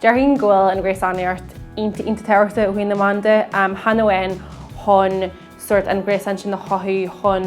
Déarfainn go bhfuil an ghréasánaíocht iontach iontach tábhachtach ó thaobh na meán de. Chan amháin chun sórt an gréasán sin a chothú chun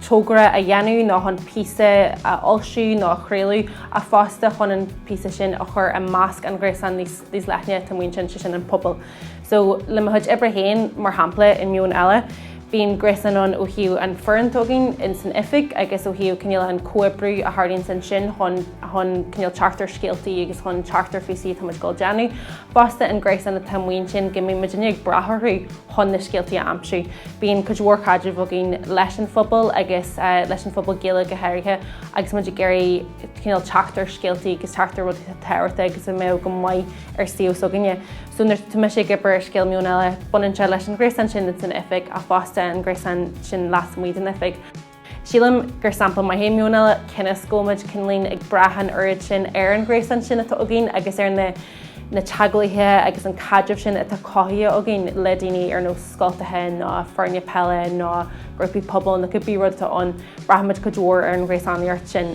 togra a dhéanamh nó chun píosa a fhoilsiú nó a chraoladh ach fosta chun an píosa sin a chur i measc an ghréasáin níos leithne atá amuigh ansin, sé sin an pobal. So, le mo chuid oibre féin, mar shampla, i Meon Eile, bíonn gréasáin ann ó thaobh an fhoireann atá againn ins an oifig agus ó thaobh cineál an comhoibriú a tharlaíonn ansin chun, chun cineál teacht ar scéaltaí agus chun teacht ar phíosaí atá muid ag dul a dhéanamh. Fosta, an gréasán atá amuigh ansin go mbíonn muid uilig ag brath orthu chun na scéaltaí a aimsiú. Bíonn cuid mhór caidrimh againn leis an phobal agus leis an phobal Gaeilge go háirithe agus muid ag iarraidh cineál teacht ar scéaltaí agus teacht ar rudaí atá tábhachtach agus a bheadh go maith ar suíomh s'againne. So nuair atá mise ag obair ar scéal Meon Eile, baineann sé leis an ghréasán sin atá san oifig ach fosta an gréasán sin lasmuigh den oifig. Sílim gur sampla maith é Meon Eile cionn is go bhfuil muid cineál ag brath an oiread sin ar an ghréasán sin atá againn agus ar na teagmhálaithe agus an caidreamh sin atá cothaithe againn le daoine ar nós scoltacha nó foirne peile nó grúpaí pobail nó cibé rud atá ann. Braithimid cuid mhór ar an ghréasánaíocht sin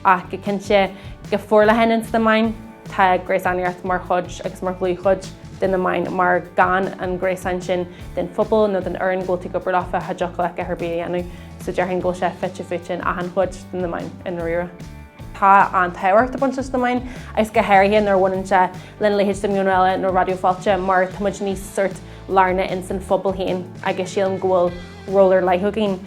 ach go cinnte go forleathan ins na meáin. Tá gréasánaíocht mar chuid, agus mar dhlúthchuid, de na meáin, mar gan an gréasán sin den phobal nó den fhoireann go bhfuil tú ag obair leo bheadh sé deacair leat a dhath ar bith a dhéanamh. So déarfainn go bhfuil sé fite fuaite in achan chuid de na meáin i ndáiríre. Tá an-tábhacht ag baint leis na meáin, agus go háirithe nuair a bhaineann sé lena leithéid de Meon Eile nó Raidió Fáilte mar tá muid níos sórt lárnach ins an phobal féin agus sílim go bhfuil ról ar leith againn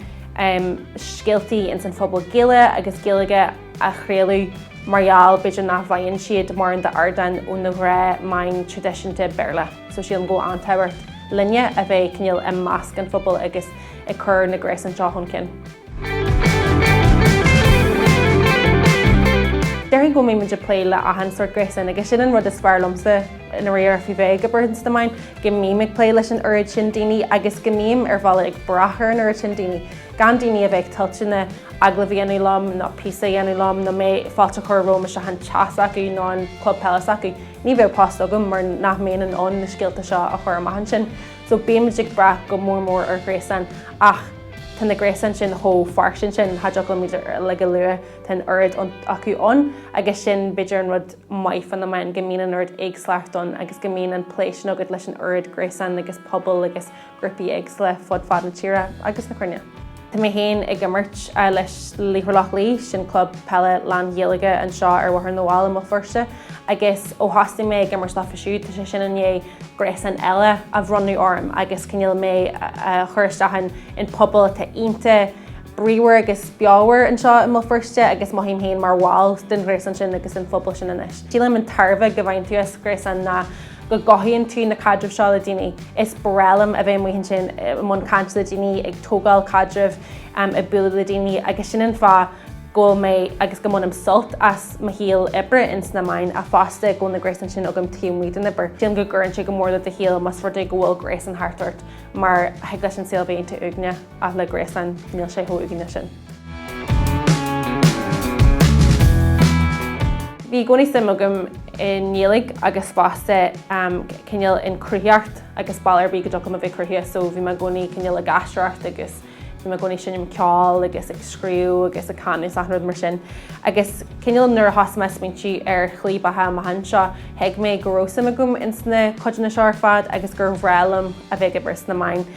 scéaltaí ins an phobal Gaeilge agus Gaelach a chraoladh mar gheall, b'fhéidir, nach bhfaigheann siad mórán d'ardán óna gnáthmheáin traidisiúnta Béarla. So sílim go bhfuil an-tábhacht linne a bheith cineál i measc an phobail agus ag cur na gréasán seo chun cinn. Déarfainn go mbímid ag plé le achan sórt gréasán agus sin an rud is fearr liomsa i ndáiríre faoi bheith ag obair ins na meáin, go mbím ag plé leis an oiread sin daoine agus go mbím ar bhealach ag brath ar an oiread sin daoine, gan daoine a bheith toilteanach agallamh a dhéanamh liom nó píosa a dhéanamh liom nó mé fáilte a chur romham isteach an teach s'acu nó an club peile s'acu, ní bheadh post agam mar nach mbeinn in ann na scéalta seo a chur amach ansin. So bímid ag brath go mór mór ar ghréasáin ach tá na gréasáin sin chomh fairsing sin cha dtiocfadh liom iad uilig a lua, tá an oiread acu ann agus sin b'fhéidir an rud maith fá na meáin go mbíonn an oiread éagsúlachta ann agus go mbíonn an plé sin agat leis an oiread gréasán agus pobal agus ghrúpaí éagsúla fud fad na tíre agus na cruinne. Tá mé féin ag imirt le Laochra Loch Lao, sin club peile lán-Ghaeilge anseo ar Bhóthar na bhFál i mBéal Feirste, agus ó thosnaigh mé ag imirt leofa siúd, tá sé sin i ndiaidh gréasán eile a bhronnadh orm agus cineál mé a chur isteach i bpobal atá iontach bríomhar agus beomhar anseo i mBéal Feirste agus mothaím féin mar bhall den ghréasán sin agus an phobal sin anois. Sílim an tairbhe go mbaineann tú as gréasán ná. go gcothaíonn tú na caidrimh seo le daoine. Is breá liom a bheith amuigh ansin i mbun cainte le daoine, ag tógáil caidrimh, ag bualadh le daoine agus sin an fáth go bhfuil mé agus go mbainim sult as mo shaol oibre ins na meáin ach fosta go bhfuil na gréasáin sin agam taobh amuigh den obair. Sílim go gcuireann sé go mór le do shaol más rud é go bhfuil gréasán thart ort mar thig leis an saol a bheith iontach uaigneach. ach le gréasáin níl sé chomh uaigneach sin. Bhí i gcónaí suim agam i nGaeilge agus fosta cineál i gcruthaitheacht agus bealach ar bith go dtiocfadh liom a bheith cruthaitheach so bhí mé i gcónaí cineál ag aisteoireacht agus bhí mé i gcónaí ag seinm ceoil agus ag scríobh agus ag canadh is achan rud mar sin. Agus cineál nuair a thosaigh mé ag smaointiú ar shlí beatha amach anseo, thuig mé go raibh suim agam insna codanna seo ar fad agus gur bhreá liom a bheith ag obair sna meáin.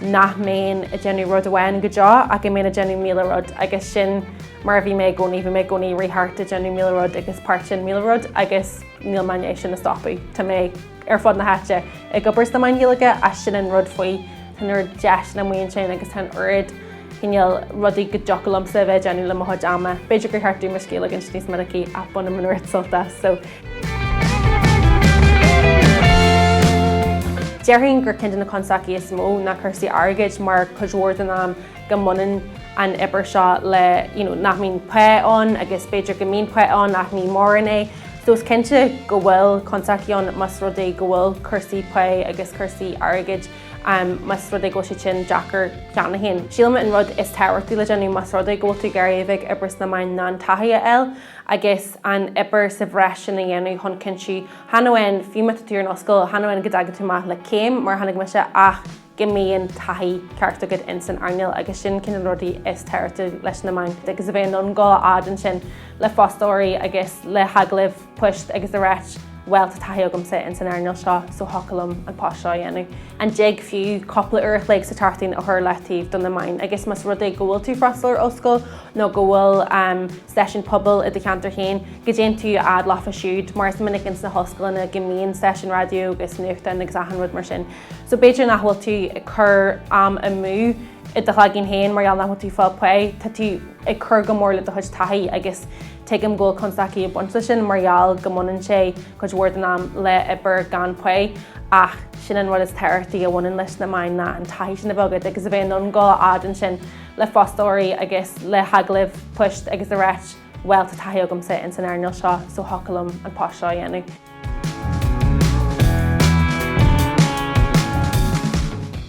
nach mbeinn ag déanamh rud amháin go deo ach go mbeinn ag déanamh míle rud agus sin mar a bhí mé i gcónaí, bhí mé i gcónaí ag rith thart ag déanamh míle rud agus páirteach i míle rud agus níl mé i ndiaidh sin a stopadh. Tá mé ar fud na háite ag obair sna meáin Ghaeilge ach sin an rud faoi, tá an oiread deiseanna amuigh ansin agus tá an oiread cineál rudaí go dtiocfadh liomsa a bheith ag déanamh le mo chuid ama. B'fhéidir gur cheart domh mo scíth a ligint níos minicí ach bainim an oiread sult as, so. Déarfainn gur ceann de na constaicí is mó ná cúrsaí airgid mar cuid mhór den am go mbaineann an obair seo le you know, nach mbíonn pay ann agus b'fhéidir go mbíonn pay ann ach ní móran é. So is cinnte go bhfuil constaicí ann más rud é go bhfuil cúrsaí pay agus cúrsaí airgid más rud é go bhfuil siad sin deacair cheana féin. Sílim an rud is tábhachtaí le déanamh más rud é go bhfuil tú ag iarraidh obair sna meáin ná an taithí a fháil agus an obair sa bhreis sin a dhéanamh chun cinntiú chan amháin fiú má tá tú ar an ollscoil, chan amháin go dtagann tú amach le céim, mar a tháinig mise, ach go mbíonn taithí ceart agat in san earnáil agus sin ceann de na rudaí is tábhachtaí leis na meáin agus a bheith in ann dul a fhad ansin le fostóirí agus le hagallaimh. poist agus a ráit bhuel tá taithí agamsa in san earnáil seo so thiocfadh liom an post seo a dhéanamh. Má thig fiú cúpla uair a chloig sa tseachtain a chur ar leataobh do na meáin agus más rud é go bhfuil tú ag freastal ar ollscoil nó go bhfuil stáisiún pobail i do cheantar féin, go dtéann tú a fhad leofa siúd mar is minic ins na hollscoileanna go mbíonn stáisiún raidió agus nuachtáin agus achan rud mar sin so b'fhéidir nach bhfuil tú ag cur am amú i do chloigeann féin mar gheall nach bhfuil tú ag fáil pay, tá tú ag cur go mór le do chuid taithí agus Tuigim go bhfuil constaicí ag baint leis sin mar gheall go mbaineann sé cuid mhór den am le obair gan pao ach sin an rud is tábhachtaí a bhaineann leis na meáin ná an taithí sin a bheith agat agus a bheith in ann dul a fhad ansin le fostóirí agus le hagallaimh poist agus a ráit bhuel tá taithí agamsa in san earnáil seo so thiocfadh liom an post seo a dhéanamh.